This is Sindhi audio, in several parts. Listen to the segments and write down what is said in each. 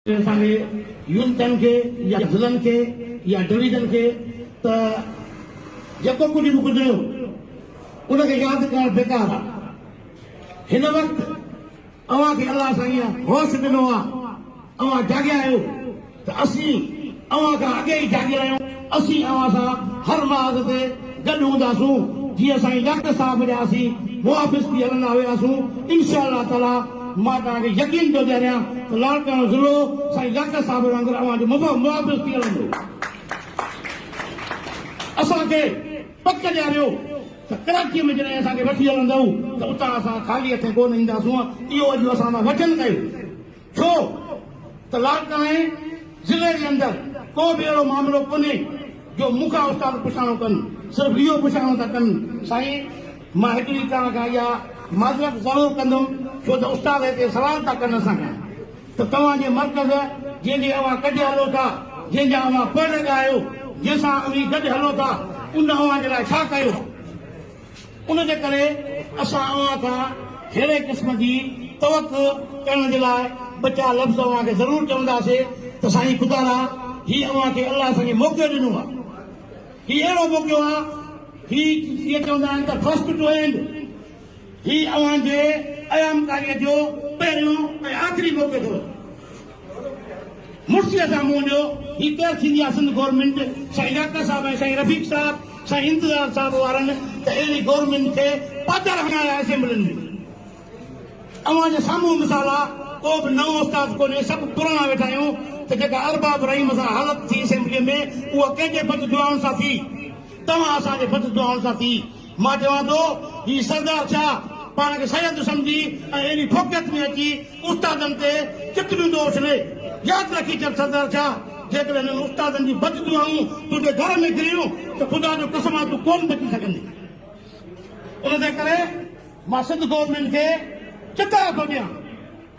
اسان کي يونٽن کي يا ضلعن کي يا ڊويزن کي ته جيڪو ڪجهه به گذريو ان کي ياد ڪرڻ بيڪار آ هن وقت اوهان کي الله سائين هوش ڏنو آ اوهان جاڳيا آهيو ته اسين اوهان کان اڳي ئي جاڳيل آهيون، اسين اوهان سان هر محاذ تي گڏ هونداسون، جيئن سائين ڊاڪٽر صاحب جا اسين محافظ ٿي هلندا هياسون، انشاء الله تعاليٰ مان توهان کي يقين ٿو ڏياريان ته لاڙڪاڻو ضلعو سائين ڊاڪٽر صاحب وانگر اوهان جو محافظ ٿي هلندو، اسان کي پڪ ڏياريو ته ڪراچيء ۾ جڏهن اسان کي وٺي هلندؤ ته اتان اسان خالي هٿين ڪو نه اينداسون، اهو اڄ اسان سان وچن ڪيو. ڇو ته لاڙڪاڻي ضلعي جي اندر ڪو به اهڙو معاملو ڪونهي جو مون کان استاد پڇاڻو ڪن، صرف اهو پڇاڻو ٿا ڪن سائين مان هڪڙي توهان کان اها معذرت ضرور ڪندم ڇو ته استاد هتي سوال ٿا ڪن اسان کان ته توهان جي مرڪز جنهن جي اوهان ڪڍي هلو ٿا، جنهن جا اوهان پڙهه لڳا آهيو، جنهن سان اوهين گڏ هلو ٿا ان اوهان جي لاء ڇا ڪيو؟ ان جي ڪري اسان اوهان کان ههڙي قسم جي توقع ڪرڻ جي لاء ٻه چار لفظ اوهان کي ضرور چونداسي ته سائين خدا را هي اوهان کي الله سان جي موقعو ڏنو آ هي اهڙو موقعو آ هي جيئن چوندا آهن ته فرسٽ ٽو اينڊ هي اوهان جي ايامڪاري جو پهريون ۽ آخري موقعو ٿو مڙسي اسان منهن ڏيو هي ڪير ٿيندي آ سنڌ گورنمينٽ سائين ڊاڪٽر صاحب ۽ سائين رفيق صاحب سائين انتظار صاحب وارن ته اهڙي گورنمينٽ کي پڌر هڻايا اسيمبلين ۾ اوهان جي سامهون مثال آ ڪو به نئون استاد ڪونهي سڀ پراڻا ويٺا آهيون ته جيڪا ارباب رحيم سان حالت ٿي اسيمبلي ۾ اها ڪنهن جي بد دعائن سان ٿي توهان اسان جي بد دعائن سان ٿي مان چوان ٿو هي سردار ڇا پاڻ کي سيد سمجهي ۽ اهڙي ڦوڪيت ۾ اچي استادن تي ڪتريون دو اڇلي. ياد رکي ڇڏ سردار ڇا جيڪڏهن هنن استادن جون بد دعائون تنهنجي گهر ۾ ڪريون ته خدا جو قسم آهي تون ڪون بچي سگهندين. ان تي ڪري مان سنڌ گورنمينٽ کي چتاء ٿو ڏيان.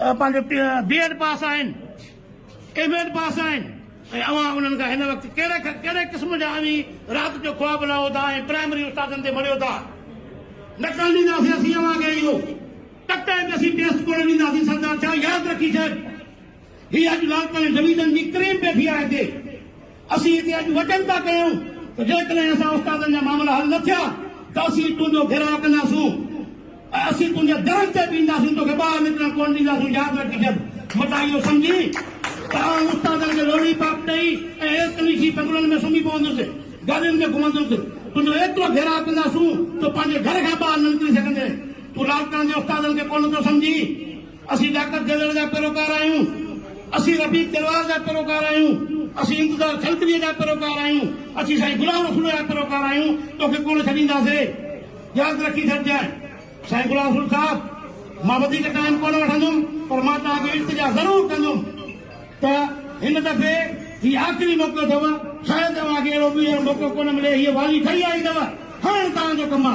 پنهنجو بي ايڊ پاس آهن، ايم ايڊ پاس آهن ۽ اوهان انهن کان هن وقت ڪهڙي کان ڪهڙي قسم جا اوهين رات جو خواب لاهو ٿا ۽ پرائمري استادن تي مڙهيو ٿا. نه ڪرڻ ڏينداسين اسين اوهان کي اهو ٽڪ ٽائيم تي اسين ٽيسٽ ڪونه ڏينداسين سردار ڇا ياد رکي ڇڏ هي اڄ لالڪاڻي ڊويزن جي ڪريم پئي ٿي آهي هتي. اسين هتي اڄ وٽن ٿا ڪيون ته جيڪڏهن اسان استادن جا معاملا حل نه ٿيا ته اسين تنهنجو گهيراء ڪنداسون ۽ اسين تنهنجي درن تي بيهنداسون توکي ٻاهر نڪرڻ ڪونه ڏينداسون ياد رکجب متان اهو سمجهي ته آئون استادن کي لوڙهي پاپ ڏئي ۽ ايئر ڪنڊيشي بنگلن ۾ سمهي پوندس گاڏين ۾ گهمندس تنهنجو ايترو گهيراء ڪنداسون جو پنهنجي گهر کان ٻاهر نه نڪري سگهندين تون لاڙڪاڻي جي استادن کي ڪونه ٿو سمجهين. اسين ڊاڪٽر جلڙ جا پيروڪار آهيون، اسين رفيق تلوار جا پيروڪار آهيون، اسين انتظار کلتڙيء جا پيروڪار آهيون، اسين سائين غلام رسول جا پيروڪار آهيون، توکي ڪونه ڇڏينداسين. ياد رکي ڇڏجانء سائين غلام رسول صاحب، مان وڌيڪ ٽائيم ڪونه وٺندم، پر مان توهان کي التجا ضرور ڪندم ته هن دفعي هي آخري موقعو اٿو، شايد اوهان کي اهڙو ٻيهر موقعو ڪونه ملي، هيء والي ٺهي آئي اٿو، هاڻ توهان جو ڪم آ.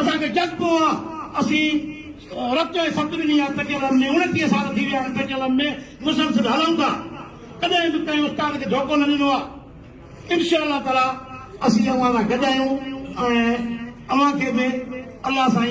اسان کي جذبو آ اسين رت ۽ ست ڏني آ پيٽيلم ۾ اڻٽيهه سال ٿي ويا آهن پيٽيلم ۾ مسلسل هلون ٿا ڪڏهن به ڪنهن استاد کي ڌوڪو نه ڏنو آ انشاء الله تعالي اسين اوهان سان گڏ آهيون ۽ اوهان کي به الله سائين